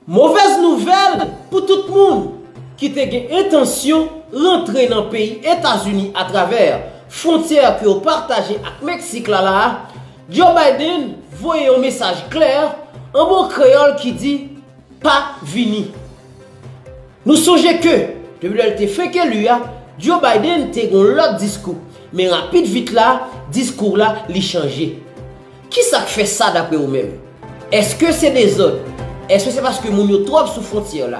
Movèz nouvèl pou tout moun ki te gen entansyon rantre nan peyi Etazini atravè fwontyè ke yo pataje ak Meksik la la a, Joe Biden voye yon mesaj klè an bon kreyòl ki di, Pa vini. Nou sonje ke, depi lè l te fenk eli a, Joe Biden te gen yon lòt diskou, men rapid vit la, diskou la li chanje. Ki sa k fè sa dapre ou menm? Èske se dezòd? Èske se paske moun yo twòp sou fwontyè la?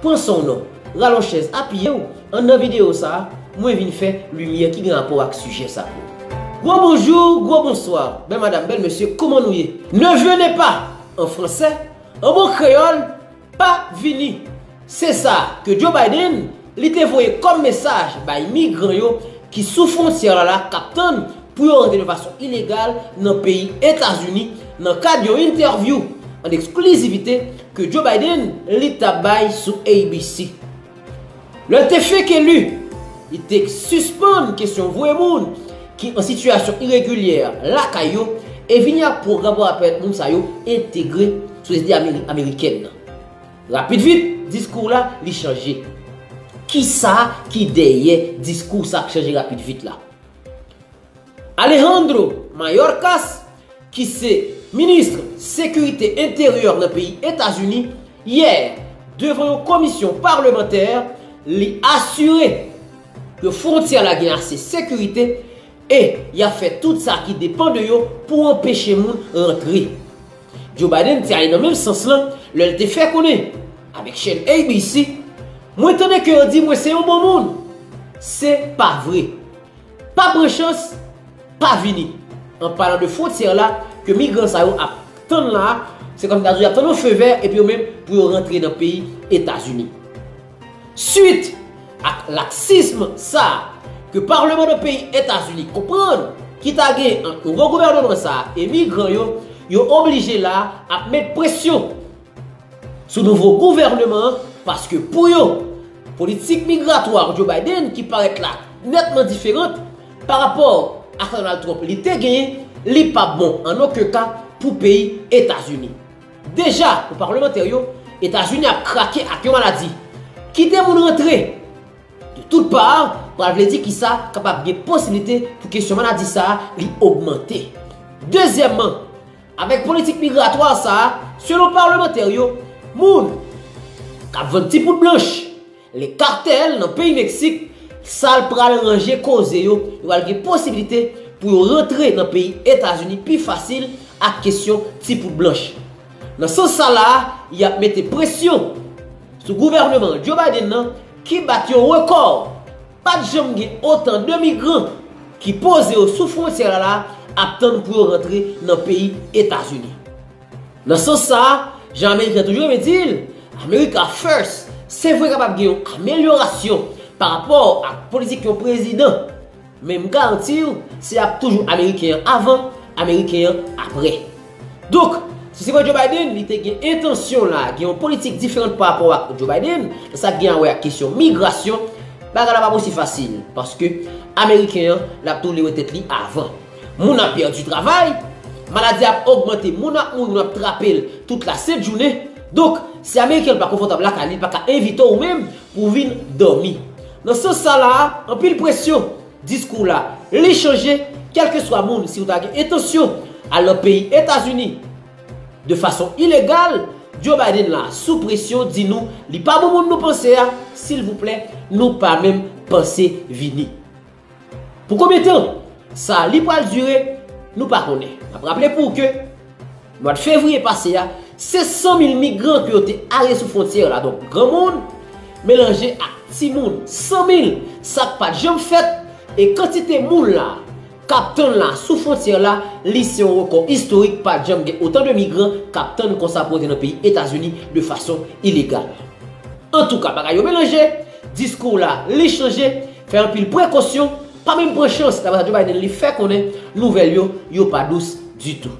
Pran san w non. Ralonj chèz, apiye w, anndan videyo sa a, mwen vin fè limyè ki gen rapò ak sijè sa pou ou. Gwo bonjou, gwo bonswa, bèl madam, bèl mesye, kouman nou ye? Ne venez pas! an fransè, an bon kreyòl, Pa vini. Se sa ke Joe Biden li te voye kòm mesaj bay migran yo ki sou fwontyè la k ap tann pou yo rantre de fason ilegal nan peyi Etazini nan kad yon entèvyou an eksklizivite ke Joe Biden li t ap bay sou ABC. Lè l te fenk eli, li te sispann kesyon voye moun ki an sitiyasyon iregilyè lakay yo e vini ak pwogram pou ap pèmèt moun sa yo entegre sosyete amerikèn nan. Rapid vit, diskou la li chanje. Kisa ki dèyè diskou sa k chanje rapid vit la? Alejandro Mayorkas, ki se Ministre Sekirite Enteryè nan peyi Etazini, yè, devan yon komisyon palmantè, li asire ke fwontyè la gen ase sekirite e y ap fè tout sa ki depan de yo pou anpeche moun rantre. Joe Biden te ale nan menm sans lan lè l te fè konnen avèk chèn ABC, Mwen tande ke yo di mwen se yon bon moun. Se pa vre. Pa pran chans pa vini. An palan de fwontyè la ke migran sa yo ap tann la a, se kòm si ta di yo ap tann yon fe vè epi yo menm pou yo rantre nan peyi Etazini. Swit ak laksism sa a ke parleman nan peyi Etazini konprann ki ta gen ant nouvo gouvèneman sa a e migran yo, yo oblije la a ap met presyon sou nouvo gouvèneman an paske pou yo, politik migratwa Joe Biden ki parèt la nètman diferant pa rapò ak sa Donald Trump li te genyen, li pa p bon an oken ka pou peyi Etazini. Deja, pou palmantè yo, Etazini ap krake ak yon maladi. Kite moun rantre de tout pa pral vle di ki sa kapab gen posiblite pou kesyon maladi sa li ogmante. Dezyèmman, Avèk politik migratwa sa a, selon palmantè yo, moun k ap vann ti poud blanch, les cartels, nan peyi Meksik, sa l pral ranje koze yo, yo pral gen posibilite pou yo rantre nan peyi Etazini pi fasil ak kesyon ti poud blanch. Nan sans sa la a, y ap mete presyon sou gouvèneman Joe Biden nan ki bat yon rekò. Pa t janm gen otan de migran ki poze yo sou fwontyè a la ap tann pou yo rantre nan peyi Etazini. Nan sans sa a, jan Ameriken toujou renmen di l, America First, se vre kapab gen yon amelyorasyon pa rapò ak politik yon prezidan, men m garanti w se ap toujou Ameriken an avan, Ameriken an aprè. Donk, si se pa Joe Biden, li te gen entansyon la, gen yon politik diferant pa rapò ak Joe Biden, nan sa gen a wè ak kesyon migrasyon, bagay la pap osi fasil, paske Ameriken an, l ap toulere tèt li avan. Moun ap pèdi travay, maladi ap ogmante, moun ap mouri, moun ap trape l tout la sent jounen. Donk, si Ameriken pa konfòtab lakay li, li pa ka envite w menm pou w vin dòmi. Nan sans sa la a, anpil presyon. Diskou w la, li chanje kèlkeswa moun si w ta gen entansyon al nan peyi Etazini de fason ilegal, Joe Biden la sou presyon di nou li pa bon moun nou panse a, silvouplè nou pa menm panse vini. Pou konbyen tan sa li pral dire nou pa konnen. N ap raple pou w ke Mwad fevriye pase a, se 100 mil migran ke yo te arete sou fwontyè la, donk granmoun melanje ak timoun. 100 mil, sa k pat janm fèt, e kantite moun la k ap tann la sou fwontyè la, li se yon rekò istorik, pat janm gen otan de migran k ap tann konsa pou antre nan peyi Etazini de fason ilegal. Antouka, bagay yo melanje, diskou w la, li chanje, fè anpil prekosyon, pa menm pran chans, daprè sa Joe Biden li fè konnen, nouvèl yo, yo pa dous ditou.